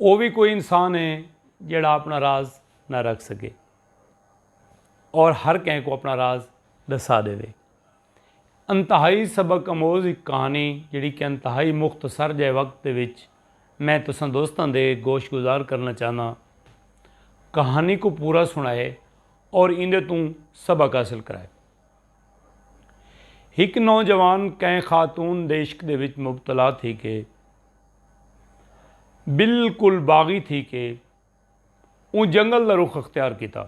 او وی کوئی انسان ہے جیڑھا اپنا راز نہ رکھ سگے اور ہر کہیں کوں اپنا راز ڈسا ڈیوے۔ انتہائی سبق اموز ہک کہانی جیڑھی کہ انتہائی مختصر جئے وقت دے وچ میں تساں دوستاں دے گوش گزار کرنا چاہنداں۔ کہانی کوں پورا سنائے اور ایندے توں سبق حاصل کرائے۔ ہک نوجوان کئیں خاتون دیعشق دے وچ مبتلا تھی کے بالکل باغی تھی کے اوں جنگل دا رخ اختیار کیتا۔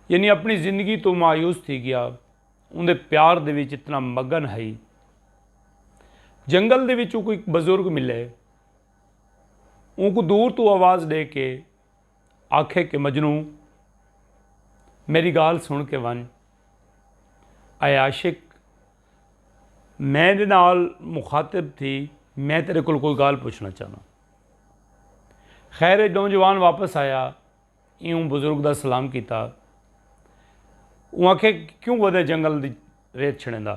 یعنی اپنی زندگی توں مایوس تھی گیا اوندے پیار دے وچ اتنا مگن ہئی۔ جنگل دے وچ اوکوں ایک بزرگ ملے اونکوں دور توں آواز ڈے کے۔ آکھے کہ مجنوں! میݙی ڳالھ سݨ کے ونڄ۔ اے عاشق! میݙے نال مخاطب تھی میں تیݙے کولھ کوئی ڳالھ پچھݨا چاہنداں۔ خیر اے نوجوان واپس آیا ایہوں بزرگ دا سلام کیتا۔ اوں آکھے کہ کیوں ودیں جنگل دی ریت چھݨیندا؟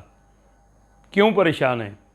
کیوں پریشان ہیں؟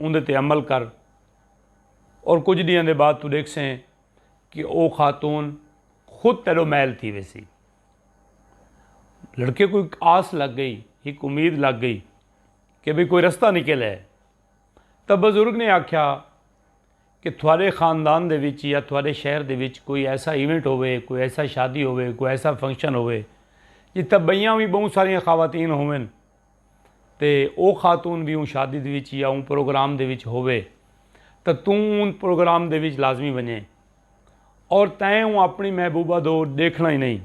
اوندے تے عمل کر اور کجھ ڈینہاں دے بعد تو ڈیکھسیں کہ او خاتون خود تیڈو میل تھی ویسی۔ لڑکے کو ایک آس لگ گئی ایک امید لگ گئی کہ بھئی کوئی رستہ نکل ہے تب بزرگ نے آکھیا کہ تھوڑے خاندان دے وچ یا تھوڑے شہر دے وچ کوئی ایسا ایونٹ ہوئے کوئی ایسا شادی ہوئے کوئی ایسا فنکشن ہوئے جتھا بئیاں وی بہوں ساریاں خواتین ہوئن تے او خاتون وی اوں شادی دے وچ یا اوں پروگرام دے وچ ہووے تاں توں اوں پروگرام دے وچ لازمی ونڄیں اور تیں اوں اپݨی محبوبہ دو ݙیکھݨا ای نئیں۔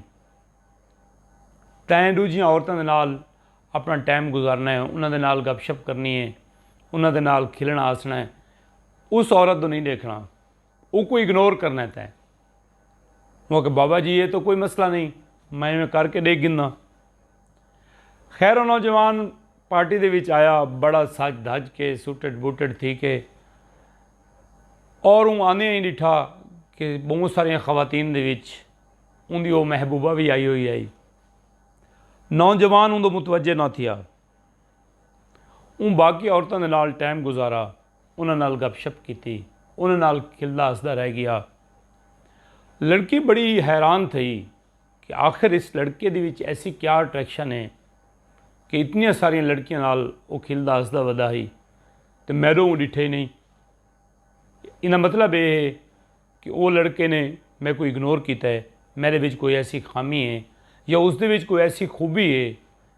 تیں ݙوجھیاں عورتاں دے نال اپݨا ٹائم گزارݨا ہے، انہاں دے نال گپ شپ کرݨی ہے، انہاں دے نال کھلݨا ہسݨا ہے، اس عورت دو نئیں ݙیکھݨا۔ اونکوں اگنور کرنڑیں تیں اوں آکھیا بابا جی اے تاں کوئی مسئلہ نئیں میں ایویں کر کے ڈیکھ گھناں۔ خیر او نوجوان پارٹی دے وچ آیا بڑا سج دھج کے سوٹڈ بوٹڈ تھی کے اور اوں آندیاں ای ڈٹھا کے بہوں ساریاں خواتین دے وچ اوندی او محبوبہ وی آئی ہوئی ہئی۔ نوجوان اوندو متوجہ نہ تھیا۔ اوں باقی عورتاں دے نال ٹائم گزارا۔ انہاں نال گپ شپ کیتی۔ انہاں نال کھلدا ہسدا رہ گیا۔ لڑکی بڑی حیران تھئی کہ آخر اس لڑکے دے وچ ایسی کیا اٹریکشن ہے کہ اتنیاں ساریاں لڑکیاں نال او کھلدا ہسدا ودا ہئی تے میڈو اوں ڈٹھے نئیں۔ ایندا مطلب اے ہے کہ او لڑکے نے میکوں اگنور کیتا ہے۔ میڈے وچ کوئی ایسی خامی ہے یا اس دے وچ کوئی ایسی خوبی ہے۔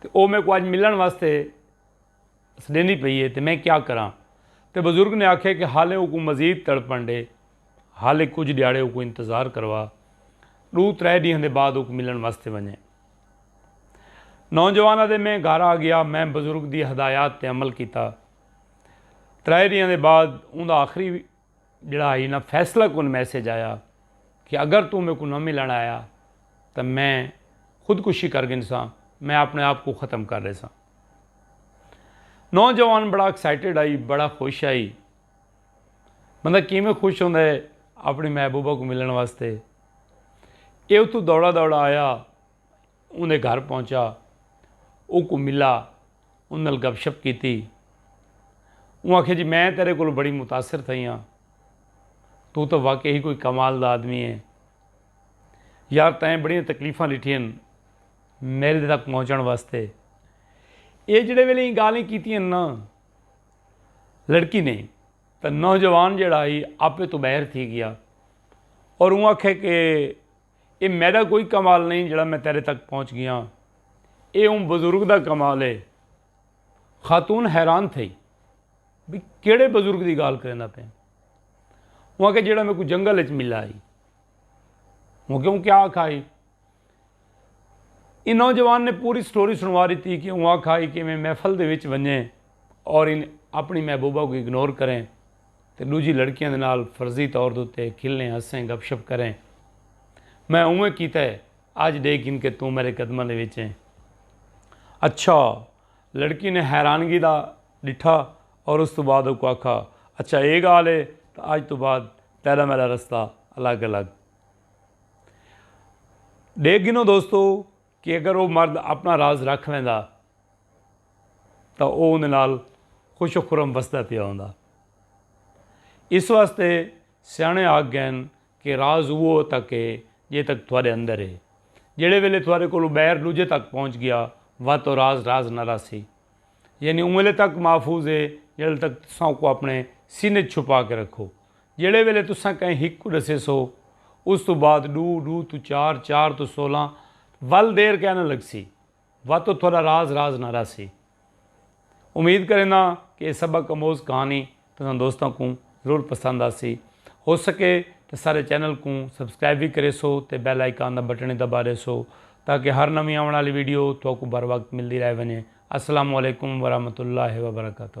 تے او میکوں اج ملݨ واسطے سݙیندی پئی اے تے میں کیا کراں؟ تے بزرگ نے آکھیا کہ حالیں اوکوں مزید تڑپݨ ݙے، حالیں کجھ ݙیہاڑے اوکوں انتظار کروا، ݙو ترائے ݙینہاں دے بعد اوکوں ملݨ واسطے ونڄیں۔ نوجوان آہدے میں گھر آ ڳیا، میں بزرگ دی ہدایات تے عمل کیتا۔ ترائے ݙینہاں دے بعد اوندا آخری جیڑھا اینا فیصلہ کن میسج آیا کہ اگر توں میکوں نہ ملن آیا تاں میں خود کشی کر گھنساں میں اپنے آپ کوں ختم کر ڈیساں نوجوان بڑا ایکسائٹڈ ہئی بڑا خوش ہئی بندہ کیویں خوش ہوندا ہے اپنی محبوبہ کوں ملن واسطے اے اتھوں دوڑا دوڑا آیا۔ اوندے گھر پہنچا اوکوں ملا ان نال گپ شپ کیتی اوں آکھیا جی میں تیرے کولوں بڑی متاثر تھئی ہاں تو تاں واقعی کوئی کمال دا آدمی ہے یار تیں بڑیاں تکلیفاں ڈٹھیاں میرے تک پہنچن واسطے اے جڑے ویلے ایں گالیں کیتیاں نا لڑکی نے تے نوجوان جڑا ہی آپے تو باہر تھی گیا اور اوں آکھے کہ اے میڈا کوئی کمال نئیں جیڑھا میں تیڈے تک پہنچ گیاں۔ اے اوں بزرگ دا کمال اے۔ خاتون حیران تھئی۔ بھئی کیڑھے بزرگ دی گالھ کریندا پئیں؟ اوں آکھیا جیڑھا میکوں جنگل اچ ملا ہئی۔ اوں آکھیا اوں کیا آکھا ہئی؟ ایں نوجوان نے پوری سٹوری سنوا ڈتی کہ اوں آکھا ہئی کہ میں محفل دے وچ ونجیں اور اپنڑی محبوبہ کوں اگنور کریں۔ تے ڈوجھی لڑکیاں دے نال فرضی طور دے اتے کھلیں ہسیں گپ شپ کریں میں اونویں کیتا ہے اج ڈے گھن کے توں میرے قدماں دے وچ ہیں اچھا لڑکی نے حیرانگی دا ڈٹھا اور اس توں بعد اوکوں آکھا اچھا اے گال ہے تاں اج توں بعد تیڈا میڈا رستہ الگ الگ ڈے گھنو دوستو کہ اگر او مرد اپݨا راز رکھ ویندا تاں او اوندے نال خوش و خرم وسدا پیا ہوندا۔ اس واسطے سیاݨے آکھ ڳئن کہ راز اوہو تک ہے جئیں تک تہاݙے اندر ہے۔ جیڑھے ویلے تہاݙے کولوں ٻاہر ݙوجھے تک پہنچ ڳیا وت او راز راز نہ رہسی۔ یعنی اوں ویلے تک محفوظ ہے جیڑھے ویلے تک تساں اوکوں اپݨے سینے اچ چھپا کے رکھو۔ جیڑھے ویلے تساں کہیں ہک کوں ڈسیسو اس توں بعد ڈو، ڈو توں چار، چار توں سولہ ول دیر کائے نہ لگسی واتو تھوڈا راز راز نہ رہسی۔ امید کرینداں کہ اے سبق اموز کہانی تساں دوستاں کوں ضرور پسند آسی۔ ہو سکے تاں سارے چینل کوں سبسکرائب وی کریسو تے بیل آئیکان دا بٹن وی دبا ڈیسو تاکہ ہر نویں آون آلی ویڈیو تھوکوں بر وقت ملدی رہ ونجے۔ السلام علیکم ورحمت اللہ وبرکاتہ۔